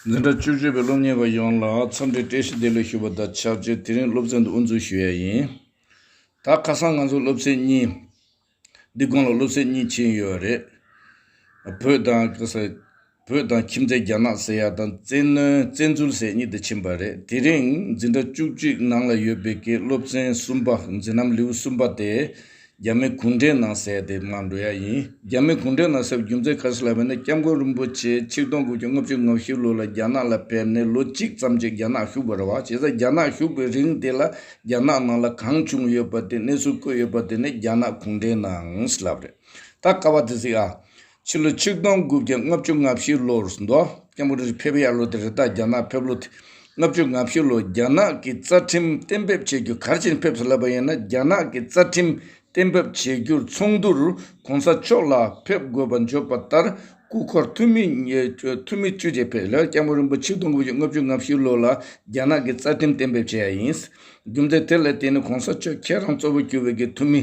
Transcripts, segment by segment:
འཛིན་གྲྭ་བཅུ་བཅུ་པའི་སློབ་གཉེར་བ་ཡོངས་ལ་འཚམས་འདྲི་བཀྲ་ཤིས་བདེ་ལེགས་ཞུ་བ་དང་ཆབས་ཅིག་དེ་རིང་སློབ་ཚན་དུ་དབུ་འཛུགས་ཞུ་ཡ་ཡིན། ད་ཁ་སང་ང་ཚོ་སློབ་ཚན་གཉིས། འདི་དགོང་ལ་སློབ་ཚན་གཉིས་ཕྱིན་ཡོད་རེད། བོད་དང་ཁྱིམ་མཚེས་རྒྱ་ནག་ཟེར་ཡ་དང་བཙན་གནོན་བཙན་འཛུལ་ཟེར་གཉིས་དེ་ཕྱིན་པ་རེད་དེ་རིང་འཛིན་གྲྭ་བཅུ་གཅིག་ནང་ལ་ཡོད་པའི་ཀྱི་སློབ་ཚན་གསུམ་པ་འཛིན་ནམ་ལེའུ་གསུམ་པ་དེ་རྒྱ་མི་གུང་ཁྲན་ནང་བསྲེགས་དེ་སྔ་འགྲོ་ཡ་ཡིན། རྒྱ་མི་གུང་ཁྲན་ནང་བསྲེགས་པའི་རྒྱུ་མཚན་ག་ཞིག་ལབ་པ་ནི་སྐྱབས་མགོན་རིན་པོ་ཆེ་ཆིག་སྟོང་དགུ་བརྒྱ་ལྔ་བཅུ་ང་བཞི་ལོ་ལ་རྒྱ་ནག་ལ་ཕེབས་ནས་ལོ་གཅིག་ཙམ་གྱིས་རྒྱ་ནག་བཞུགས་པ་རེད་བ་བྱས་ཙ་རྒྱ་ནག་བཞུགས་པའི་རིང་དེ་ལ་རྒྱ་ནག་ནང་ལ་གང་བྱུང་ཡོད་པ་དེ་གནས་ཚུལ་བཀོད་ཡོད་པ་དེ་ནི་རྒྱ་ནག་གུང་ཁྲན་ནང་བསྲེགས་ལབ་རེད་ད་ཀ་བ་དེ་ཟིག་ཨ། ཕྱི་ལོ་ཆིག་སྟོང་དགུ་བརྒྱ་ལྔ་བཅུ་ང་བཞི་ལོར་མདོ་སྐྱབས་མགོ་འཁྲིད་ཕེབས་ཡར་ལོ་དེར་རི་དྭགས་རྒྱ་ནག་ཕེབས་ལོ་དེ་ལྔ་བཅུ་ང་བཞི་ལོར་རྒྱ་ནག་གི་རྩ་ཁྲིམས་གཏན་འབེབས་བྱེད་རྒྱུ་གར་ཕྱིན་ཕེབས་སུ་སླེབས་པ་ཡིན་ན་རྒྱ་ནག་གི་རྩ་ཁྲིམས་གཏན་འབེབས་བྱེད་རྒྱུར་ཚོགས་འདུར་གོང་ས་མཆོག་ལ་ཕེབས་དགོས་པ་འཇོག་པ་ལྟར་སྐུ་འཁོར་འཐུས་མི་བཅུ་ཆེད་ཕེབས་ལ་སྐྱབས་མགོན་རིན་པོ་ཆིག་སྟོང་དགུ་བརྒྱ་ལྔ་བཅུ་ང་བཞི་ལོ་ལ་རྒྱ་ནག་གི་རྩ་ཁྲིམས་གཏན་འབེབས་བྱས་ཡ་ཡིན། རྒྱུ་མཚན་དེ་ལས་དེ་ནི་གོང་ས་མཆོག་ཁྱེད་རང་གཙོ་བོ་གྱུར་བའི་གི་འཐུས་མི་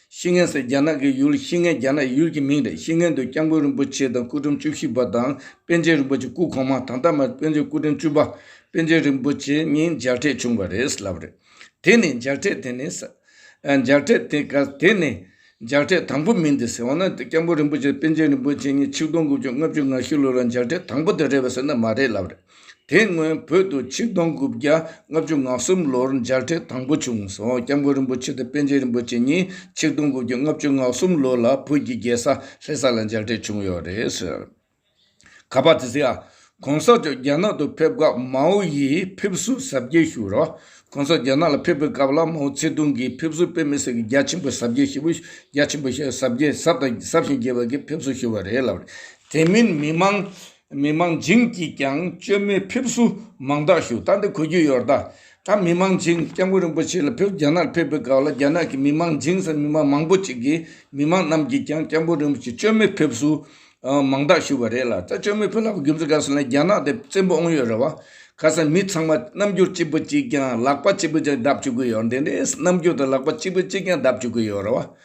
ཤིས་ངན་སོགས་རྒྱ་ནག་གི་ཡུལ་ཤིས་ངན་རྒྱ་ནག་ཡུལ་གྱི་མིང་རེད་ཤིས་ངན་དུ་སྐྱབས་མགོན་རིན་པོ་ཆེ་དང་སྐུ་ཕྲེང་བཅུ་བཞི་པ་དང་པཎ་ཆེན་རིན་པོ་ཆེ་སྐུ་གོང་མ་དང་ཐ་མ་པཎ་ཆེན་སྐུ་ཕྲེང་བཅུ་པ་པཎ་ཆེན་རིན་པོ་ཆེ་གཉིས་མཇལ་འཕྲད་བྱུང་བ་རེད་ལབ་རེད། དེ་ནི་མཇལ་འཕྲད་དེ་ནི། མཇལ་འཕྲད་དེ་ག་དེ་ནི་མཇལ་འཕྲད་དང་པོ་མིན་ཏེ་ཟེར་བ་ན་སྐྱབས་མགོན་རིན་པོ་ཆེ་དང་པཎ་ཆེན་རིན་པོ་ཆེ་གཉིས་ཆིག་སྟོང་དགུ་བཅུ་ལྔ་བཅུ་ང་བཞི་ལོ་ལ་མཇལ་འཕྲད་དང་པོ་དེ་རེད་བ་ཟེར་ན་མ་རེད་ལབ་རེད། དེ་སྔོན་བོད་དུ་ཆིག་སྟོང་དགུ་བརྒྱ་ལྔ་བཅུ་ང་གསུམ་ལོར་མཇལ་འཕྲད་དང་པོ་བྱུང་སོང་སྐྱབས་མགོན་རིན་པོ་ཆེ་དང་པཎ་ཆེན་རིན་པོ་ཆེ་གཉིས་ཆིག་སྟོང་དགུ་བརྒྱ་ལྔ་བཅུ་ང་གསུམ་ལོ་ལ་བོད་ཀྱི་རྒྱལ་ས་ལྷེ་ས་ལ་མཇལ་འཕྲད་བྱུང་ཡོད་རེད། ག་པར་དེ་སིའ། གོང་ས་མཆོག་རྒྱ་ནག་ཏུ་ཕེབས་སྐབས་མའོ་ཡིས་ཕེབས་བསུ་གཟབ་རྒྱས་ཞུས་རོགས། གོང་ས་རྒྱ་ནག་ལ་ཕེབས་པའི་སྐབས་ལ་མའོ་ཚེ་ཏུང་གིས་ཕེབས་བསུ་དཔེ་མི་སེར་གྱི་རྒྱ་ཆེན་པོ་གཟབ་རྒྱས་ཞེས་པོ་རྒྱ་ཆེན་པོ་ཞེས་གཟབ་རྒྱས་གཟབ་དང་གཟབ་ཞིང་རྒྱས་པ་གྱིས་ཕེབས་བསུ་ཞུས་པ་རེད་ལབ། དེ་མིན་མི་མང་མི་མང་བྱིངས་ཀྱིས་ཀྱང་བཅོས་མའི་ཕེབས་བསུ་མང་དག་ཞུ་ད་འདི་གོ་རྒྱུ་ཡོར་ད་ད་མི་མང་བྱིངས་སྐྱབས་མགོན་རིན་པོ་ཆེ་ལ་ཕེབས་རྒྱ་ནག་ཕེབས་པའི་སྐབས་ལ་རྒྱ་ནག་གི་མི་མང་བྱིངས་སམ་མི་མང་མང་པོ་ཅིག་གིས་མི་མང་རྣམས་ཀྱིས་ཀྱང་སྐྱབས་མགོན་རིན་པོ་ཆེ་བཅོས་མའི་ཕེབས་བསུ་མང་དག་ཞུ་བ་རེད་ལ་ད་བཅོས་མའི་ཕེབས་ལག་པ་རྒྱུ་མཚན་ག་ཟེར་ན་རྒྱ་ནག་དེ་བཙན་པོ་ཨོང་ཡོད་རེད་བ་ག་ས་མི་ཚང་མ་རྣམ་འགྱུར་གཅིག་པུ་གཅིག་ཀྱང་ལག་པ་གཅིག་པུ་ཅིག་བརྡབ་བཅུག་གི་ཡོར་འདི་འདྲའི་རྣམ་འགྱུར་དང་ལག་པ་གཅིག་པུ་གཅིག་ཀྱང་བརྡབ་བཅུག་གི་ཡོར་རེད་བ།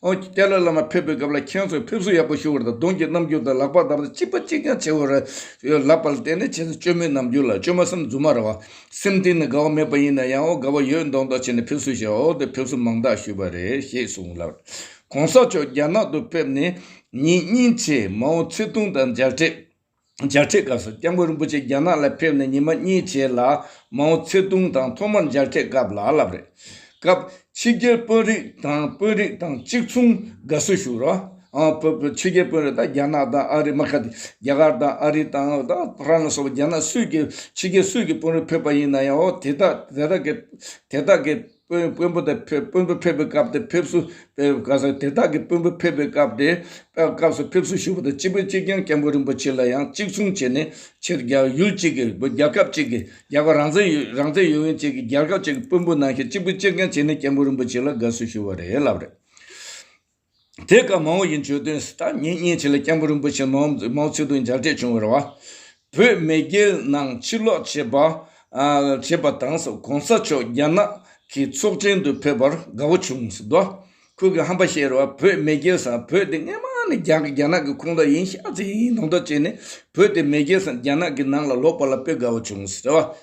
ཨོ་རྒྱན་ཏཱ་ལའི་བླ་མ་ཕེབས་པའི་སྐབས་ལ་ཁྱེད་ཚོས་ཕེབས་བསུ་ཡག་པོ་ཞུ་བ་དང་གདུང་གི་རྣམ་འགྱུར་དང་ལག་པ་འདར་བ་ཅི་ཕ་ཅིས་ཀྱང་བྱེད་འོས་རེད་ཡོད་ལབ་པ་ལ་བརྟེན་ནས་ཁྱེད་ཚོས་བཅོས་མའི་རྣམ་འགྱུར་ལ་བཅོས་མ་སེམས་རྫུན་མ་རེད་བ། སེམས་གཏིང་ནས་དགའ་བ་མེད་པ་ཡིན་ན་ཡང་ཨོ་དགའ་བ་ཡོད་མདོག་མདོག་བྱས་ནས་ཕེབས་བསུ་བྱས་འོ་དེ་ཕེབས་བསུ་མང་དག་ཞུས་པ་རེད་ཞེས་གསུངས་ལབ། གོང་ས་མཆོག་རྒྱ་ནག་ཏུ་ཕེབས་ནས་ཉིན་གཉིས་ཆེད་མའོ་ཚེ་ཏུང་དང་མཇལ་འཕྲད། འཇགས་འཕྲད་སྐབས་སུ་སྐྱབས་མགོན་རིན་པོ་ཆེ་རྒྱ་ནག་ལ་ཕེབས་ནས་ཉི་མ་གཉིས་བྱས་ལ་མའོ་ཚེ་ཏུང་དང་ཐོག་མར་འཇགས་འཕྲད་སྐབས་ལ་ལབ་རེད། སྐབས་ཕྱི་རྒྱལ་དཔོན་རིགས་དང་དཔོན་རིགས་དང་གཅིག་མཚུངས་དགའ་བསུ་ཞུ་རོགས། ཕྱི་རྒྱལ་དཔོན་རིགས་དང་རྒྱ་ནག་དང་ཨ་རི་མ་ཁ་རྒྱ་གར་དང་ཨ་རི་དང་ཕ་རན་སོགས་རྒྱ་ནག་སུས་ཀྱི་ཕྱི་རྒྱལ་སུས་ཀྱི་དཔོན་རིགས་ཕེབས་པ་ཡིན་ན་ཡང་དེ་དག་གི་དེ་དག་གི་དཔོན་པོ་དང་དཔོན་པོ་ཕེབས་པའི་སྐབས་དེ་ཕེབས་བསུ་དེ་ག་ས་དེ་དག་གིས་དཔོན་པོ་ཕེབས་པའི་སྐབས་དེ་སྐབས་སུ་ཕེབས་བསུ་ཞུ་བ་དང་སྤྱི་དཔོན་གཅིག་ཀྱང་སྐྱབས་མགོན་རིན་པོ་ཆེ་ལ་ཡང་གཅིག་མཚུངས་བྱས་ནས་ཕྱིར་རྒྱལ་ཡུལ་གཅིག་གི་རྒྱལ་ཁབ་གཅིག་གི་རྒྱལ་བ་རང་བཙན་ཡུལ་ཡོན་གཅིག་གི་རྒྱལ་ཁབ་གཅིག་གི་དཔོན་པོ་གནང་ཞིང་སྤྱི་དཔོན་གཅིག་ཀྱང་བྱས་ནས་སྐྱབས་མགོན་རིན་པོ་ཆེ་ལ་དགའ་བསུ་ཞུ་བ་རེད་ལབ་རེད། དེ་སྐབས་མའོ་ཡི་མཆོད་དོན་སི་ཏཱ་ཉིད་མཉེས་བྱེད་ལ་སྐྱབས་མགོན་རིན་པོ་ཆེ་མའོ་ཙེ་ཏུང་མཇལ་འཕྲད་བྱུང་བར་བ། བོད་མེས་རྒྱལ་ནང་ཕྱིར་ལོག་བྱེད་པ། བྱེད་པ་དང ྋགོང་ས་མཆོག་རྒྱ་ནག་གི་ཚོགས་ཆེན་དུ་ཕེབས་པར་དགའ་བོ་བྱུང་ཟིན་ཏོ། ཁོས་གི་ཧམ་པ་བཤད་རུང་བ་བོད་མེས་རྒྱལ་སང་བོད་དེ་སྔས་མ་ནས་རྒྱ་གི་རྒྱ་ནག་གི་ཁོངས་དག་ཡིན་ཤག་ཙེ་ཡིན་ནོང་དག་བྱས་ནས་བོད་དེ་མེས་རྒྱལ་སང་རྒྱ་ནག་གི་ནང་ལ་ལོག་པ་ལ་དཔེ་དགའ་བོ་བྱུང་ཟེར་བ།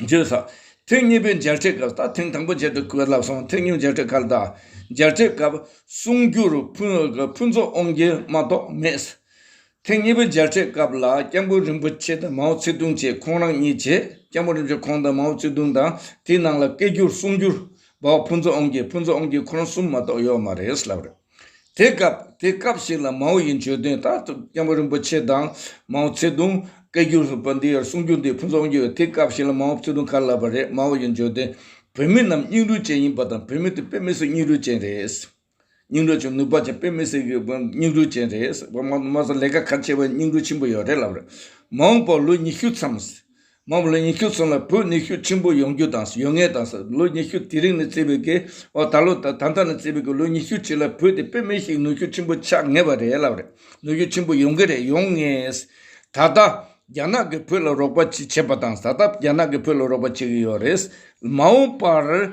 བརྗོད་ས། ཐེངས་གཉིས་པའི་མཇལ་འཕྲད་སྐབས་དང་ཐེངས་དང་པོའི་མཇལ་འཕྲད་སྐབས་བསླབ་གསང་ཐེངས་གཉིས་མཇལ་འཕྲད་སྐབས་དང། མཇལ་འཕྲད་སྐབས་གསུང་བསྒྱུར་ཕུན་ཚོགས་དབང་རྒྱལ་མ་གཏོགས་མེད། ཐེངས་གཉིས་པའི་མཇལ་འཕྲད་སྐབས་ལ་སྐྱབས་མགོན་རིན་པོ་ཆེ་དང་མའོ་ཙེ་ཏུང་བཅས་ཁོང་རང་གཉིས་བཅས་སྐྱབས་མགོན་རིན་པོ་ཆེ་ཁོང་དང་མའོ་ཙེ་ཏུང་དང་དེའི་ནང་ལ་སྐད་བསྒྱུར་གསུང་བསྒྱུར་བ་ཕུན་ཚོགས་དབང་རྒྱལ་ཕུན་ཚོགས་དབང་རྒྱལ་ཁོ་རང་གསུམ་མ་གཏོགས་ཡོད་མ་རེད་ལབ་རེད། དེ་སྐབས་དེ་སྐབས་ཤིག་ལ་མའོ་ཡི་བརྗོད་དོན་ལྟར་དུ་སྐྱབས་མགོན་རིན་པོ་ཆེ་དང་མའོ་ཙེ་ཏུང་སྐད་བསྒྱུར་ལྷུག་པ་འདི་ཡར་གསུང་རྒྱུ་འདི་ཕུན་ཚོགས་རྒྱུ་དེ་སྐབས་ཤིག་ལ་མའོ་ཙེ་ཏུང་ཁ་ལབ་པ་རེད་མའོ་ཡི་བརྗོད་དོན་བོད་མི་རྣམས་སྙིང་རུས་ཅན་ཡིན་པ་དང་བོད་མི་དེ་དཔེ་མི་སྲིད་སྙིང་རུས་ཅན་རེད། སྙིང་རུས་ཅན་ནུས་པ་ཅན་དཔེ་མི་སྲིད་ཀྱི་སྙིང་རུས་ཅན་རེད། མ་གསུང་ལས་ཀ་ག་ཆེ་བའི་སྙིང་རུས་ཆེན་པོ་ཡོད་རེད་ལབ་རེད་མ་འོངས་པར་ལོ་ཉི་ཤུ་མཚམས། མ་མོ་ལོ་ཉི་ཤུ་སོང་ལ་བོད་ནུས་ཤུགས་ཆེན་པོ་ཡོང་རྒྱུ་དང་ཡོད་ངེས་དང་ལོ་ཉི་ཤུ་དེ་རིང་ནས་བརྩི་བའི་གེ་འོ་ད་ལོ་ད་ལྟ་ནས་བརྩི་བའི་གེ་ལོ་ཉི་ཤུ་ཕྱི་ལ་བོད་དེ་དཔེ་མེད་ཞིག་ནུས་ཤུགས་ཆེན་པོ་ཆགས་ངེས་པ་རེད་ལབ་རེད་ནུས་ཤུགས་ཆེན་པོ་ཡོང་གི་རེད་ཡོང་ངེས། ད་ལྟ་རྒྱ་ནག་གིས་བོད་ལ་རོགས་པ་བྱེད་བྱེད་པ་དང་ད་ལྟ་རྒྱ་ནག་གིས་བོད་ལ་རོགས་པ་བྱེད་གི་ཡོད་རེད། མ་འོངས་པར།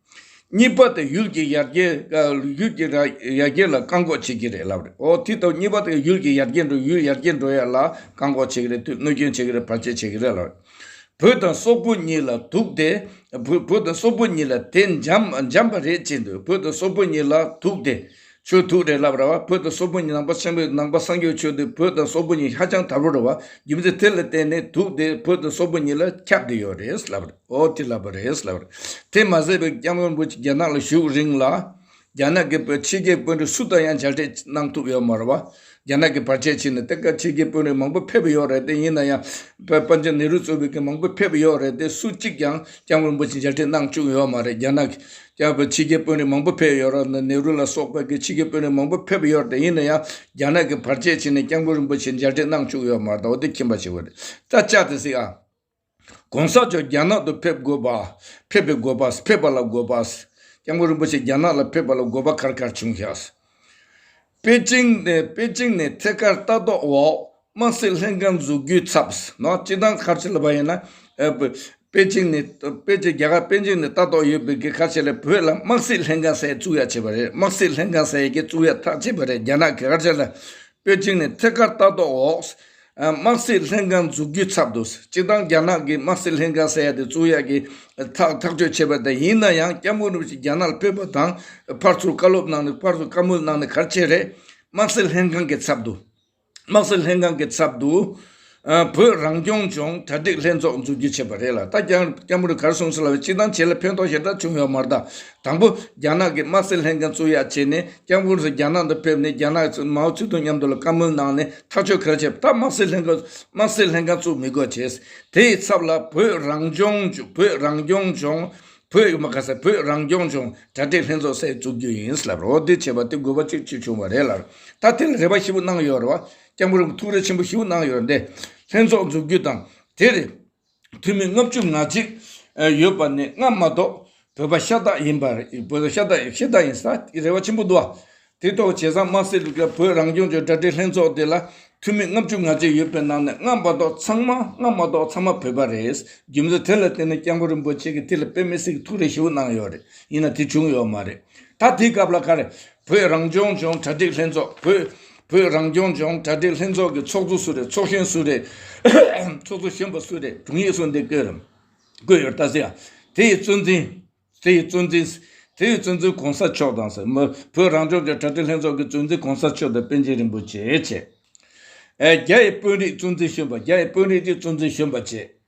གཉིས་པ་དེ་ཡུལ་གྱི་ཡར་རྒྱས། ཡུལ་གྱི་ཡར་རྒྱས་ལ་བཀག་འགོག་བྱེད་ཀྱི་རེད་ལབ་རེད། འོ་དེ་ཐོག་གཉིས་པ་དེ་ཡུལ་གྱི་ཡར་རྒྱས་འགྲོ་ཡུལ་ཡར་རྒྱས་འགྲོ་ཡ་ལ་བཀག་འགོག་བྱེད་ཀྱི་རེད་དུས་གནོད་སྐྱོན་བྱེད་ཀྱི་རེད་བར་ཆད་བྱེད་ཀྱི་རེད་ལབ་རེད། བོད་དང་སོག་པོ་གཉིས་ལ་དུག་དེ། བོད་དང་སོག་པོ་གཉིས་ལ་དེ་འཇམ་པ་རེད་ཅེས་འདོད་བོད་དང་སོག་པོ་གཉིས་ལ་དུག་དེ། ཆོས་ཐུགས་རེག་ལབ་ར་བ་བོད་དང་སོག་པོ་གཉིས་ནང་པ་ཆེན་པོས་ནང་པ་སངས་རྒྱས་ཆོས་འདི་བོད་དང་སོག་པོ་གཉིས་ཧ་ཅང་དག་རུ་ར་བ་རྒྱུ་མཚན་དེ་ལ་བརྟེན་ནས་དུག་དེ་བོད་དང་སོག་པོ་གཉིས་ལ་ཁྱབ་བསྡད་ཡོད་རེད་ལབ་ར་འོ་དེ་ལབ་པ་རེད་ལབ་ར་དེ་མ་ཟད་པའི་སྐྱབས་མགོན་པོ་ཆེ་རྒྱ་ནག་ལ་བཞུགས་རིང་ལ་རྒྱ་ནག་གི་བོད་ཕྱི་རྒྱལ་དཔོན་རིགས་སུ་དང་ཡང་མཇལ་འཕྲད་གནང་ཐུབ་ཡོད་མ་ར་བ་རྒྱ་ནག་གི་བར་ཆད་ཕྱིན་ནས་གཏེར་ཁ་ཕྱེས་མཁན་དཔོན་རིགས་མང་པོ་ཕེབས་ཡོད་རེད་དེ་ཡིན་ན་ཡང། པན་ཆེན་ནེ་རུ་གཙོས་པའི་མཁན་མང་པོ་ཕེབས་ཡོད་རེད་དེ་སུ་གཅིག་ཀྱང་སྐྱབས་མགོན་པོ་ཆེ་མཇལ་འཕྲད་གནང་བཅུག་ཡོད་མ་རེད་རྒྱ་ནག་གི། ཕྱི་རྒྱལ་དཔོན་རིགས་མང་པོ་ཕེབས་ཡོད་རེད་ནེ་རུ་ལ་སོགས་པའི་ཕྱི་རྒྱལ་དཔོན་རིགས་མང་པོ་ཕེབས་ཡོད་དེ་ཡིན་ན་ཡང་རྒྱ་ནག་གི་བར་ཆད་ཕྱིན་ནས་སྐྱབས་མགོན་རིན་པོ་ཆེ་མཇལ་འཕྲད་གནང་བཅུག་ཡོད་མ་རེད་དོ་དེ་ཁྱིམ་པ་ཆེ་བོ་རེད་ད་ཅག་དེ་སྲིད་ཨ། ྋགོང་ས་མཆོག་རྒྱ་ནག་ཏུ་ཕེབས་དགོས་པ། ཕེབས་པའི་དགོས་པ། ཕེབས་པ་ལ་དགོས་པ། ྋསྐྱབས་མགོན་རིན་པོ་ཆེ་རྒྱ་ནག་ལ་ཕེབས་པ་ལ་དགོས་པ་གར་གར་བྱུང་ཞག ྋཔེ་ཅིང་ནས་ཐད་ཀར་ལྟ་རྟོག་འོག་དམག་སྲིད་ལྷན་ཁང་འཛུགས་རྒྱུའི་ཚབ ྋནང་སྤྱི་དང་ཁ་བྱེ་ལ་བ་ཡིན་ན ྋཔེ་ཅིང་ནས་རྒྱ་གར་པེ་ཅིང་ནས་ལྟ་རྟོག་ཡོད་པའི་ཁ་བྱེ་ལ་བོད་ལ་དམག་སྲིད་ལྷན་ཁང་གསལ་བཙུགས་ཡག་བྱས་པ་རེད་དམག་སྲིད་ལྷན་ཁང་གསལ་ཡག་གི་བཙུགས་ཡག་ཐག་བཅད་པ་རེད་རྒྱ་ནག་གི་ཁ་བྱེ་ལ་པེ་ཅིང་ནས་ཐད་ཀར་ལྟ་རྟོག་འོག་དམག་སྲིད་ལྷན་ཁང་འཛུགས་རྒྱུའི་ཚབ་ཏུ་སྤྱིར་བཏང་རྒྱ་ནག་གིས་དམག་སྲིད་ལྷན་ཁང་ཟེར་ཡ་དེ་གཙུག་ཡ་གི་ཐག་ཐག་གཅོད་བྱས་པ་དང་ཡིན་ན་ཡང་སྐྱབས་མགོན་རིན་པོ་ཆེ་རྒྱ་ནག་ལ་ཕེབས་པ་དང་ཕར་ཚུར་བཀའ་སློབ་གནང་ནས་ཕར་ཚུར་བཀའ་མོལ་གནང་ནས་གར་ཆེད་རེད། དམག་སྲིད་ལྷན་ཁང་གི་ཚབ་ཏུ། དམག་སྲིད་ལྷན་ཁང་གི་ཚབ་ཏུ། བོད་རང་སྐྱོང་ལྗོངས་གྲ་སྒྲིག་ལྷན་ཚོགས་འཛུགས་རྒྱུ་བྱས་པ་རེད་ལ་ད་སྐྱ་འབུར་གར་སོང་ཟེར་ལབ་ཅིག་དང་བྱས་ལ་ཕན་ཐོགས་ཞེ་དྲག་བྱུང་ཡོད་མ་རྟ། དང་པོ་རྒྱ་ནག་གི་དམག་སྲིད་ལྷན་ཁང་བཙུགས་ཡག་བྱས་ནས་སྐྱ་འབུར་ཚོ་རྒྱ་ནག་ཏུ་ཕེབས་ནས་རྒྱ་ནག་མའོ་ཙེ་ཏུང་མཉམ་དུ་ལ་བཀའ་མོལ་གནང་ནས་ཐག་གཅོད་གལ་ཆེ་བ་ད་དམག་སྲིད་ལྷན་དམག་སྲིད་ལྷན་ཁང་བཙུགས་མི་དགོས་བྱས་དེ་ཡི་ཚབ་ལ་བོད་རང་སྐྱོང་བོད་རང་སྐྱོང་ལྗོངས་བོད་མ་ག་ས་བོད་རང་སྐྱོང་ལྗོངས་གྲ་སྒྲིག་ལྷན་ཚོགས་སེ་འཛུགས་རྒྱུ་ཡིན་ལབ་རོགས་འདེད་བྱས་པ་དེ་དགོས་པ་གཅིག་གཅིག་བྱུང་བ་རེད་ལར་ད་དེ་ལ་རེ་བ་ཞིབ་པོ་གནང་ཡོད་རེད་བ། སྐྱབས་མགོན་རིན་པོ་ཐུགས་རེ་ཆེན་པོ་ཞུ་གནང་ཡོད་དེ། ལྷན་ཚོགས་འཛུགས་རྒྱུ་དང་དེར་འཐུས་མི་ལྔ་བཅུ་ང་གཅིག་ཡོད་པ་ནི་སྔར་མ་གཏོགས་བོད་པ་ཤ་སྟག་ཡིན་པ་བོད་ཤ་སྟག་ཤི་སྟག་ཡིན་ས་རེ་བ་ཆེན་པོ་འདུག་དེ་ཐོག་བྱས་ཙང་དམར་སེར་དཀར་བོད་རང་སྐྱོང་ལྗོངས་དྲ་སྦྲེལ་ལྷན་ཚོགས་དེ་ལ་འཐུས་མི་ལྔ་བཅུ་ང་གཅིག་ཡོད་པའི་ནང་ནས་སྔར་མ་གཏོགས་ཚང་མ་སྔར་མ་གཏོགས་ཚང་མ་བོད་པ་རེད་རྒྱུ་མཚན་དེ་ལ་བརྟེན་ནས་སྐྱབས་མགོན་རིན་པོ་ཆེ་གི་ཐིག་ལེ་དཔེ་མི་སྲིད་ཀྱི་ཐུགས་རེ་ཞུ་གནང་ཡོད་རེད་ཡིན་ན་དེ་བྱུང་ཡོད་མ་རེད་ད་དེའི་སྐབས་ལ་ཁ་རེད་བོད་རང་སྐྱོང་ལྗོངས་དྲ་སྦྲེལ་ལྷན་ཚོགས་བོད། བོད་རང་སྐྱོང་ལྗོངས་གྲ་སྒྲིག་ལྷན་ཚོགས་ཀྱི་ཚོགས་གཙོ་སུ་རེད་ཚོགས་གཞོན་སུ་རེད། ཚོགས་གཙོ་གཞོན་པ་སུ་རེད་དྲུང་ཡིག་སུ་འདི་བཀོད་རམ། བཀོད་ཡོད་ད་ཟེར་ཡ། དེ་ཡི་གཙོ་འཛིན། དེ་ཡི་གཙོ་འཛིན། དེ་ཡི་གཙོ་འཛིན་གོང་ས་མཆོག་དང་ཟེར། བོད་རང་སྐྱོང་ལྗོངས་གྲ་སྒྲིག་ལྷན་ཚོགས་ཀྱི་གཙོ་འཛིན་གོང་ས་མཆོག་དང་པཎ་ཆེན་རིན་པོ་ཆེ་བཅས། རྒྱ་ཡི་དཔོན་རིགས་གཙོ་འཛིན་གཞོན་པ་རྒྱ་ཡི་དཔོན་རིགས་ཀྱི་གཙོ་འཛིན་གཞོན་པ་བཅས།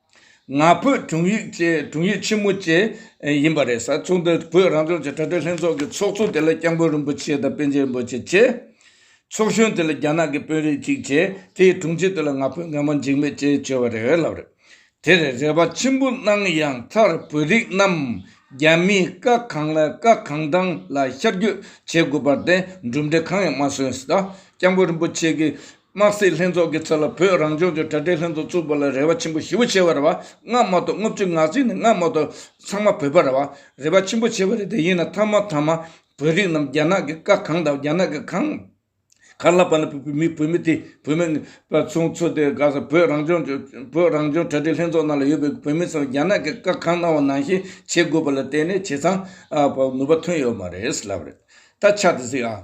ང་ཕོད་དྲུང་ཡིག་ཆེན་མོ་བཅས་ཡིན་པ་རེད། ཚོགས་འདུ་བོད་རང་སྐྱོང་ལྗོངས་དྲ་སྦྲེལ་ལྷན་ཚོགས་ཀྱི་ཚོགས་གཙོ་དེ་ལ་སྐྱབས་མགོན་རིན་པོ་ཆེ་དང་པཎ་ཆེན་རིན་པོ་ཆེ་བཅས། ཚོགས་གཞོན་དེ་ལ་རྒྱ་ནག་གི་དཔོན་རིགས་གཅིག་བཅས་དེའི་དྲུང་ཆེ་དེ་ལ་ང་ཕོད་ངན་པ་འཇིགས་མེད་བཅས་བཅོལ་བ་རེད་ལབ་རེད། དེར་རེ་བ་ཆེན་པོ་གནང་ཡང་མཐར་བོད་རིགས་རྣམས་རྒྱ་མིའི་བཀའ་གང་ལ་བཀའ་གང་དྲང་ལ་ཤར་སྐྱོད་བྱེད་དགོས་པར་བརྟེན་གྲུབ་འབྲས་གང་ཡང་མ་སོན། སྐྱབས་མགོན་རིན་པོ་ཆེ་གི་དམག་སྲིད་ལྷན་ཚོགས་ཀྱི་ཚབ་ལ་བོད་རང་ལྗོངས་ཀྱི་དྲ་སྦྲེལ་ལྷན་ཚོགས་བཙུགས་པ་ལ་རེ་བ་ཆེན་པོ་ཞི་བོ་ཆེ་བ་རེ་བ་སྔ་མ་དང་ལྔ་བཅུ་ང་གཟིགས་ནས་སྔ་མ་དང་ཚང་མ་བོད་པ་རེ་བ་རེ་བ་ཆེན་པོ་ཆེ་བ་རེ་དེ་ཡིན་ན་ཐ་མ་ཐ་མ་བོད་རིགས་རྣམས་རྒྱ་ནག་གི་བཀའ་གང་དང་རྒྱ་ནག་གི་གང་གར་ལབ་པ་ན་བོད་མི་བོད་མི་དེ་བོད་མི་པ་ཚོ་ཚོ་དེ་དགའ་ས་བོད་རང་ལྗོངས་ཀྱི་བོད་རང་ལྗོངས་དྲ་སྦྲེལ་ལྷན་ཚོགས་ནང་ལ་ཡོད་པའི་བོད་མི་ཚོ་རྒྱ་ནག་གི་བཀའ་གང་གནང་བ་ནང་བཞིན་བྱེད་དགོས་པ་ལ་བལྟས་ནས་བྱས་ཙང་ནུས་པ་ཐོན་ཡོད་མ་རེད་ལབ་རེད་ད་ཆ་དེ་གཟིགས་ཨ།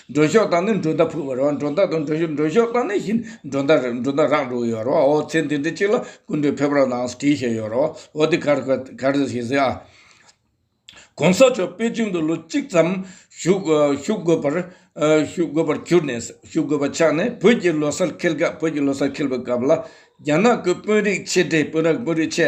འགྲོ་ཤོག་དང་ནི་འགྲོ་ཟླ་ཕུལ་བར་འགྲོ་ཟླ་དང་འགྲོ་ཤོག་འགྲོ་ཤོག་དང་ནི་བཞིན་འགྲོ་ཟླ་རེ་འགྲོ་ཟླ་རག་འགྲོ་ཡོད་རོ་ཨོ་ཚེ་འདི་འདི་གཅིག་ལ་ཀུན་གྲོལ་ཕེབས་རོགས་གནང་བསྐྲིས་བྱས་ཡོད་རོ་ཨོ་འདི་གར་གར་ཟེར་ཞེས་ཟེར་ཨ། གོང་ས་མཆོག་པེ་ཅིང་དུ་ལོ་གཅིག་ཙམ་བཞུགས་དགོས་པར་བཞུགས་དགོས་པར་གྱུར་ནས་བཞུགས་དགོས་པ་ཆགས་ནས་བོད་ཀྱི་ལོ་སར་འཁེལ་སྐབས་བོད་ཀྱི་ལོ་སར་འཁེལ་བའི་སྐབས་ལ་རྒྱ་ནག་གི་དཔོན་རིགས་ཆེ་གྲས་དཔོན་རིགས་ཆེ་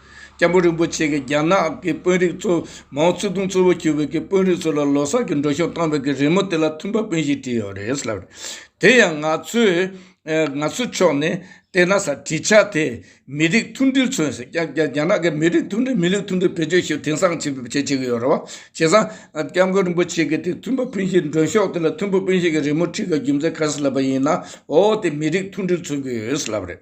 སྐྱབས་འགྲོ་རིན་པོ་ཆེ་གིས་རྒྱ་ནག་གི་དཔོན་རིགས་ཚོ་མའོ་ཙེ་ཏུང་གཙོ་བོ་གྱུར་པའི་དཔོན་རིགས་ཚོ་ལ་ལོ་སར་གྱི་འགྲོ་ཞོར་བཏང་བའི་གི་རི་མོ་དེ་ལ་མཐུན་པ་དཔོན་ཞིག་བྲིས་ཡོད་རེད་ལབ། དེ་ཡང་ང་ཚོའི་ཕྱོགས་ནས་བལྟས་ན་ས་བྲིས་ཆ་དེ་མི་རིགས་མཐུན་སྒྲིལ་མཚོན་ཟེར། རྒྱ་ནག་གི་མི་རིགས་མཐུན་སྒྲིལ་མི་རིགས་མཐུན་སྒྲིལ་བེད་སྤྱོད་བྱེད་དེང་སང་བྱེད་ཀྱི་ཡོད་རེད་བ། བྱས་ཙང་སྐྱབས་མགོན་རིན་པོ་ཆེ་གིས་དེ་མཐུན་པ་དཔོན་ཞིག་འགྲོ་ཞོག་དེ་ལ་མཐུན་པ་དཔོན་ཞིག་གི་རི་མོ་བྲིས་ཀ་རྒྱུ་མཚན་ག་རེ་ལབ་པ་ཡིན་ན་འོ་དེ་མི་རིགས་མཐུན་སྒྲིལ་མཚོན་གྱི་ཡོད་ལབ་རེད།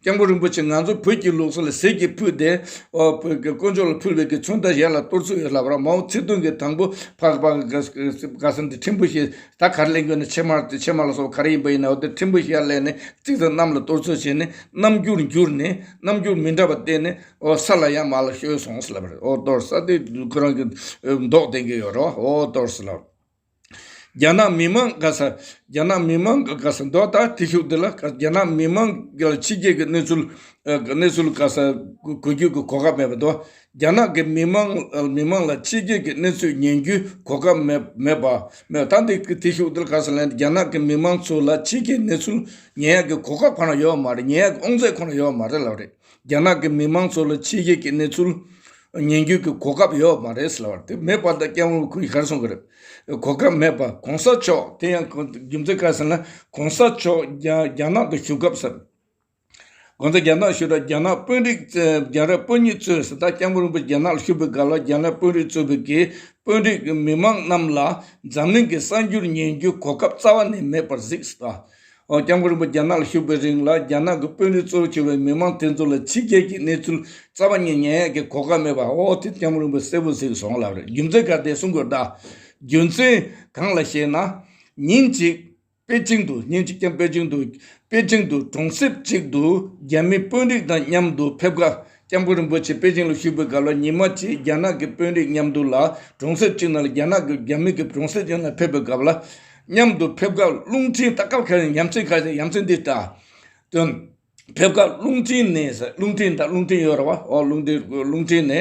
སྐྱབས་མགོན་རིན་པོ་ཆེ་ང་ཚོ་བོད་ཀྱི་ལུགས་སྲོལ་ལ་ཟས་ཀྱིས་ཕུལ་ཏེ། དཀོན་མཆོག་ལ་ཕུལ་བའི་གི་ཚོན་དང་ཞལ་ལ་གཏོར་ཚུལ་ཡོད་ལབ་ར་མའོ་ཚེ་ཏུང་གི་དང་པོ་ཕག་པ་དགའ་ས་འདི་ཁྲིམས་བུ་ཞེས་ད་གར་གླེང་དགོས་ན་ཕྱེ་མར་དེ་ཕྱེ་མར་ལ་སོགས་པ་ག་རེ་ཡིན་པ་ཡིན་ནའོ་དེར་ཁྲིམས་བུ་ཞལ་གླས་ནས་བརྩིགས་ཙང་གནམ་ལ་གཏོར་ཚུལ་བྱས་ནས་རྣམ་འགྱུར་བསྒྱུར་ནས་རྣམ་འགྱུར་མི་འདྲ་བ་བསྟན་ནས་འོ་ས་ལ་ཡང་མ་ལ་བཤོལ་སོང་ཟེར་ལབ་ར་འོ་གཏོར་ས་དེ་ཁོ་རང་གི་མདོག་བསྟན་གྱི་ཡོད་ར་འོ་གཏོར་ཟེར་ལབ། རྒྱ་ནག་མི་མང་དགའ་ས་རྒྱ་ནག་མི་མང་གི་དགའ་ས་མདོག་ལྟ་དེ་ཤུགས་འདི་ལ་དགའ་ས་རྒྱ་ནག་མི་མང་གི་ཕྱི་རྒྱལ་གྱི་གནས་ཚུལ་གནས་ཚུལ་དགའ་ས་གོ་རྒྱུ་གི་གོ་སྐབས་མེད་པ་མདོག་རྒྱ་ནག་གི་མི་མང་མི་མང་ལ་ཕྱི་རྒྱལ་གྱི་གནས་ཚུལ་ཉན་རྒྱུའི་གོ་སྐབས་མེད་མེད་པ་མེད་ད་འདི་དེ་ཤུགས་འདི་ལ་དགའ་ས་ལན་རྒྱ་ནག་གི་མི་མང་ཚོ་ལ་ཕྱི་རྒྱལ་གནས་ཚུལ་ཉན་ཡག་གི་གོ་སྐབས་ཁོ་ན་ཡོད་མ་རེད་ཉན་ཡག་གི་ཨོང་རྩེད་ཁོ་ན་ཡོད་མ་རེད་ལབ་རེད། རྒྱ་ནག་གི་མི་དམངས་ཚོ་ལ་ཕྱི་རྒྱལ་གྱི་གནས་ཚུལ་ཉན་རྒྱུའི་གོ་སྐབས་ཡོད་མ་རེད་ཟེར་བ་དེ་མེད་པ་དང་སྐྱབས་དངུལ་ཁུར་གར་སོང་གི་རེད། གོ་སྐབས་མེད་པ་གོང་ས་མཆོག་དེ་ཡང་རྒྱུ་མཚན་ག་ཟེར་ན་གོང་ས་མཆོག་རྒྱ་ནག་ཏུ་བཞུགས་སྐབས་ཟེར། གོང་ས་རྒྱ་ནག་བཞུགས་ར་རྒྱ་ནག་དཔོན་རིགས་རྒྱ་ར་དཔོན་གཉིས་གཙོས་ཟེར་ད་སྐྱབས་མགོན་རིན་པོ་རྒྱ་ནག་ལ་བཞུགས་པའི་སྒང་ལ་རྒྱ་ནག་དཔོན་རིགས་གཙོས་པའི་གི་དཔོན་རིགས་མི་དམངས་རྣམས་ལ་འཛམ་གླིང་གི་གསར་འགྱུར་ཉན་རྒྱུའི་གོ་སྐབས་རྩ་བ་ནས་མེད་པར་གཟིགས་ཟེར། སྐྱབས་མགོན་རིན་པོ་རྒྱ་ནག་ལ་བཞུགས་པའི་རིང་ལ་རྒྱ་ནག་གི་དཔོན་རིགས་གཙོ་བོ་བྱས་པའི་མི་མང་དེ་ཚོ་ལ་ཕྱི་རྒྱལ་གྱི་གནས་ཚུལ་རྩ་བ་ཉིད་ཉན་ཡག་གི་གོ་སྐབས་མེད་པ་ཨོ་ཨོ་དེ་སྐྱབས་མགོན་རིན་པོ་གསལ་པོ་ཟིག་སོང་ལབ་རེད་རྒྱུ་མཚན་ག་དེ་གསུང་དགོས་གདའ། རྒྱུ་མཚན་གང་ལ་ཞེ་ན། ཉིན་གཅིག་པེ་ཅིང་དུ་ཉིན་གཅིག་ཀྱང་པེ་ཅིང་དུ་པེ་ཅིང་དུ་གྲོང་གསེབ་ཅིག་ཏུ་རྒྱ་མི་དཔོན་རིགས་དང་མཉམ་དུ་ཕེབས་ཁ་སྐྱབས་མགོན་རིན་པོ་ཆེ་པེ་ཅིང་ལ་བཞུགས་པའི་སྐབས་ལ་ཉི་མ་ཕྱེད་རྒྱ་ནག་གི་དཔོན་རིགས་མཉམ་དུ་ལ་གྲོང་གསེབ་ཅིག་ན་ལ་རྒྱ་ནག་གིས་རྒྱ་མི་གི་གྲོང་གསེབ་ཅིག་ན་ཕེབས་པའི་སྐབས་ལ། མཉམ་དུ་ཕེབས་སྐབས་རླུང་འཕྲིན་ལྟ་སྐབས་ཁ་ཞིང་ཡ་མཚན་ཁ་ཞིང་ཡ་མཚན་འདི་ལྟ་དོན། ཕེབས་སྐབས་རླུང་འཕྲིན་ནས་རླུང་འཕྲིན་དང་རླུང་འཕྲིན་ཡོད་ར་བ་ཨོ་རླུང་འཕྲིན་རླུང་འཕྲིན་ནས་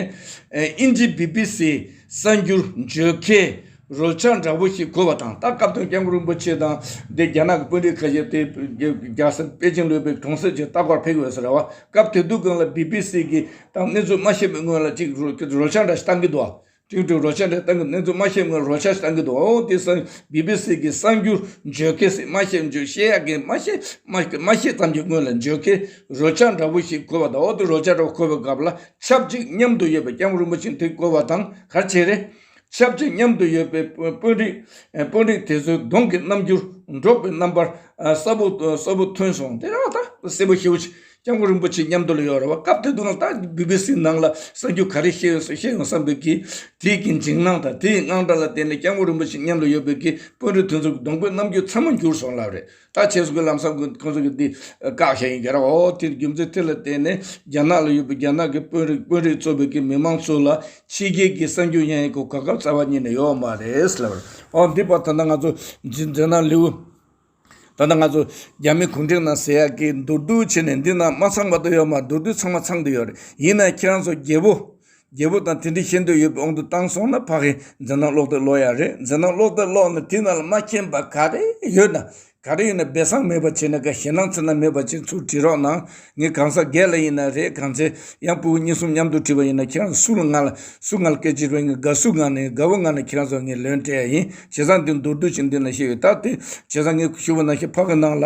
ཨིན་ཇི་བྷི་བྷི་སི་གསར་འགྱུར་བརྗོད་མཁན། རོལ་ཆ་འདྲ་བོ་ཞིག་བཀོལ་བ་དང་ད་སྐབས་དོན་རྐྱང་རིན་པོ་ཆེ་དང་འདི་རྒྱ་ནག་གི་དཔོན་རིགས་ཁ་ཤས་དེ་རྒྱ་སེ་པེ་ཅིང་ལུས་པའི་གྲོང་གསེབ་ཅིག་ལྟ་སྐོར་ཕེབས་ཡོད་ཟེར་ར་བ་སྐབས་དེ་དུས་གང་ལ་སྦི་སྦི་སི་གི་དང་གནས་ཚུལ་མ་ཤེས་པའི་སྔོན་ལ་ཅིག་རོལ་ཆ་འདྲ་ཞིག་བཏང་གི་འདུག་ཅིག་ཅིག་རོལ་ཆ་འདྲ་བཏང་གི་གནས་ཚུལ་མ་ཤེས་སྔོན་རོལ་ཆ་ཞིག་བཏང་གི་འདུག་ཨོ་དེ་སང་སྦི་སྦི་སི་གི་གསར་འགྱུར་བརྗོད་མཁན་ཞིག་མ་ཤེས་འཇུག་བཤད་ཡག་མཁན་མ་ཤེས་མ་ཤེས་ཙམ་གྱི་སྔོན་ལ་འཇོག་མཁན་རོལ་ཆ་འདྲ་བོ་ཞིག་བཀོལ་བ་དང་ཨོ་དེ་རོལ་ཆ་འདྲ་བོ་བཀོལ་བའི་སྐབས་ལ་ཆབས་ཅིག་མཉམ་དུ་ཡོད་པའི་རྐྱང་རིན་པོ་ཆེ་དེ་བཀོལ་བ་དང་ག་ཆེ་རེད་ཆབས་ཅིག་མཉམ་དུ་ཡོད་པའི་དཔོན་རིགས་དེ་ཚོའི་གདོང་གི་རྣམ་འགྱུར་འབྲོག་པའི་རྣམ་པར་གསལ་པོ་ཐོན་སོང། སེར་པོ་ཤེའུ་སྐྱབས་མགོན་རིན་པོ་ཆེ་མཉམ་དུ་ལ་ཡོད་རེད་བ། སྐབས་དེ་དུས་ང་ད་སྦི་སྦི་སི་ནང་ལ་གསར་འགྱུར་ག་རེ་བཤད་ཡོང་བསམ་ཡོང་བསམ་འདུག་གི། དེའི་གི་འཇིགས་སྣང་དང་དེའི་དངངས་སྐྲག་ལ་བརྟེན་ནས་སྐྱབས་མགོན་རིན་པོ་ཆེ་མཉམ་ལ་ཡོད་པའི་གི་དཔོན་རིགས་དེ་ཚོའི་གདོང་པའི་རྣམ་འགྱུར་ཚད་མ་འགྱུར་སོང་ལབ་རེད། ད་ཆེན་སོག་གི་ལམ་སང་ཁོང་ཚོ་གི་དེ་བཀག་བྱས་ཡིན་ག་རང་འོ་དེ་རྒྱུ་མཚན་དེ་ལ་བརྟེན་ནས་རྒྱ་ནག་ལ་ཡོད་པའི་རྒྱ་ནག་གི་དཔོན་རིགས་དཔོན་རིགས་གཙོ་བོད་ཀྱི་མི་མང་ཚོ་ལ་ཕྱི་རྒྱལ་གྱི་གསར་འགྱུར་ཡང་ཡང་གོ་ག་སྐབས་གསར་བ་གཉིས་ནས་ཡོད་མ་རེད་ལབ་རེད་འོ་འདི་པ་ད་ནང་ང་ཚོ་འཇིན་རྒྱ་ནག་ལེའུ་ད་ལྟ་ང་ཚོ་རྒྱ་མི་གུང་ཁྲན་ནང་ཟེར་ཡག་གི་མདོར་བསྡུ་བྱས་ནས་འདི་ནང་མ་ཚང་པ་དུ་ཡོད་མ་མདོར་བསྡུ་ཚང་མ་ཚང་དུ་ཡོད་རེད་ཡིན་ན་ཁྱེད་རང་ཚོ་རྒྱལ་པོ། རྒྱལ་པོ་དང་དེ་འདྲའི་ཤེས་འདོད་ཡོད་པའི་དབང་དུ་བཏང་སོང་ན་ཕ་གིས་འཛིན་སྟངས་ཀློག་སྟེ་ལོག་ཡ་རེད་འཛིན་སྟངས་ཀློག་སྟེ་ལོག་ནས་དེ་ནང་ལ་མ་མཁྱེན་པ་ག་རེ་ཡོད་ན་ག་རེ་ཡོད་ན་སྦས་གསང་མེད་པ་བྱས་ན་ག་ཞེ་སྣང་ཚུལ་སྣང་མེད་པ་བྱས་ཚུལ་བྲིས་རོགས་གནང་ངས་གང་ཟག་སྒེར་ལ་ཡིན་ན་རེད་གང་ཚེ་ཡང་སྤུ་བོ་གཉིས་གསུམ་མཉམ་དུ་བྲིས་པ་ཡིན་ན་ཁྱེད་རང་ཚོ་སུ་ལ་ང་ལ་སུ་ང་ལ་སྐད་ཅིག་རེ་ངས་དགའ་བསུ་ངང་ནས་དགའ་བོ་ངང་ནས་ཁྱེད་རང་ཚོ་ལ་ངས་ལོན་སྤྲད་ཡིན་བྱས་ཙང་འདི་མདོར་བསྡུས་ཀྱིས་འདི་ན་བཤད་ཡོད་ད་དེ་བྱས་ཙང་ངས་ཞུ་བ་ནང་བཞིན་ཕ་གི་ནང་ལ།